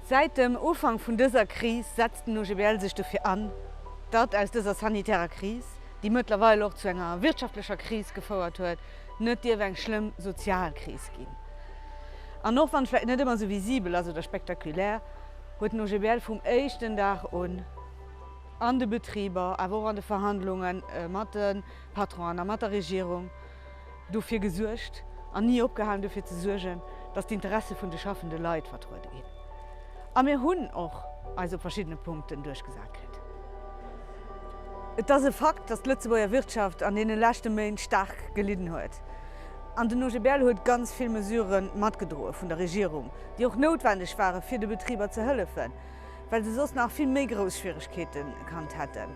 Säit dem Ufank vun dëser Kris setzt den OGBL sech dofir an, datt aus dëser sanitärer Kris, déi mëttlerweil och zu enger wirtschaftlecher Kris gefouert huet, net dierf eng schlëmm sozial Kris ginn. An och wann vläicht net ëmmer esou visibel ass oder spektakulär, huet den OGBL vum éischten Dag un an de Betriber, awer och an de Verhandlunge mat de Patronen a mat der Regierung, dofir gesuergt an ni opgehalen dofir ze suergen, dass d'Interesse vun de schaffende Leit vertruede ginn. A mir hunn och eis op verschiddene Punkten duerchgesat kritt. Et ass e Fakt, dass d'Lëtzebuerger Wirtschaft an deene leschte Méint staark gelidden huet. An den OGBL huet ganz vill Mesurë matgedroe vun der Regierung, déi och noutwendeg ware fir de Betriber ze hëllefen, well se soss nach vill méi grouss Schwieregkeete kannt hätten.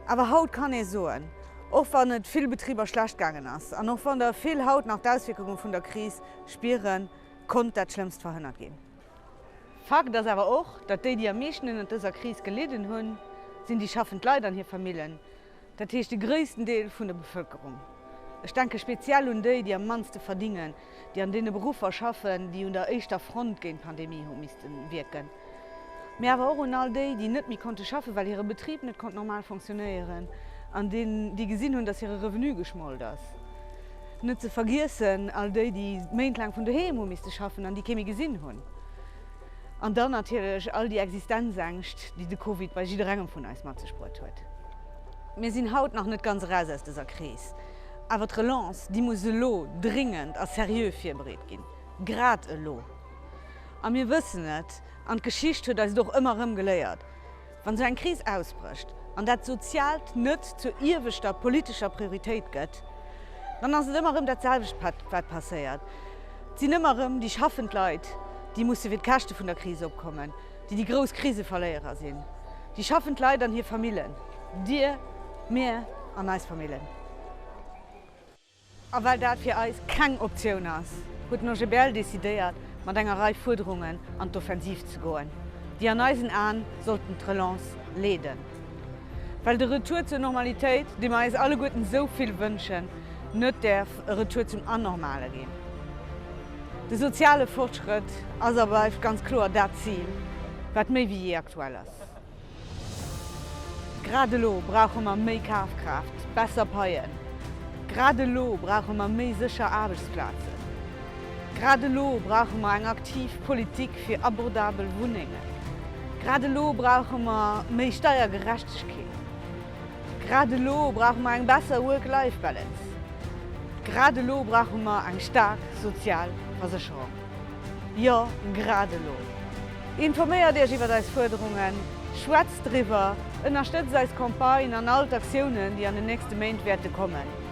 Awer haut kann ee soen. Och wann et vill Betriber schlecht gaangen ass an och wann der vill haut nach d'Auswierkunge vun der Kris spieren, konnt dat Schlëmmst verhënnert ginn. Fakt ass awer och, datt déi, déi am meeschten ënnert dëser Kris gelidden hunn, sinn déi schaffend Leit an hir Famillen, dat heescht de gréissten Deel vun der Bevëlkerung. Ech denke speziell un déi, déi am mannste verdingen. déi an deene Beruffer schaffen, déi un der éischter Front géint d'Pandemie hu misste wierken, mee awer och un all déi, déi net méi konnte schaffen, well hire Betrib net konnt normal funktionéieren, an déi gesinn hunn, datt hire Revenu geschmolt ass. Net ze vergiessen all déi, déi méintlaang vun doheem hu misste schaffen an déi kee méi gesinn hunn. An dann natierlech all déi Existenzängscht, déi de Covid bei jidderengem vun eis mat sech bruet huet. Mir sinn haut nach net ganz eraus aus dëser Kris. Awer d'Relance, déi muss elo dringend a seriö virbereet ginn, grad elo. A mir wëssen et, an d'Geschicht huet eis et och ëmmer erëm geléiert, Wann esou eng Kris ausbrécht an dat Soziaalt net zur ieweschter politescher Prioritéit gëtt, dann ass et ëmmer erëm dat selwecht wat passéiert. Et sinn ëmmer erëm déi schaffend Leit, déi musse fir d'Käschte vun der Kris opkommen. déi déi grouss Kriseverléierer sinn, déi schaffend Leit an hir Famillen, dir, mir an eis Famillen. A well dat fir eis keng Optioun ass, huet den OGBL decidéiert, mat enger Rei Fuerderungen an d'Offensiv ze goen, déi an eisen Aen sollten d'Relance leeden, well de Retour zur Normalitéit, dee mer eis alleguerten esou vill wënschen, net däerf e Retour zum Anormale ginn. De soziale Fortschrëtt ass a bleift ganz kloer dat Zil, wat méi wéi jee aktuell ass. Grad elo brauche mer méi Kafkraaft, besser Paien. Grad elo brauche mer méi sécher Aarbechtsplazen. Grad elo brauche mer eng aktiv Politik fir abordabel Wunnengen. Grad elo brauche mer méi Steiergerechtegkeet. Grad elo brauche mer eng besser Work-Life Balance. Grad elo brauche mer eng staark sozial Versécherung. Jo, grad elo! Informéiert Iech iwwer eis Fuerderungen, schwätzt driwwer, ënnerstëtzt eis Campagne an all d'Aktiounen, déi an den nächste Méint wäerte kommen.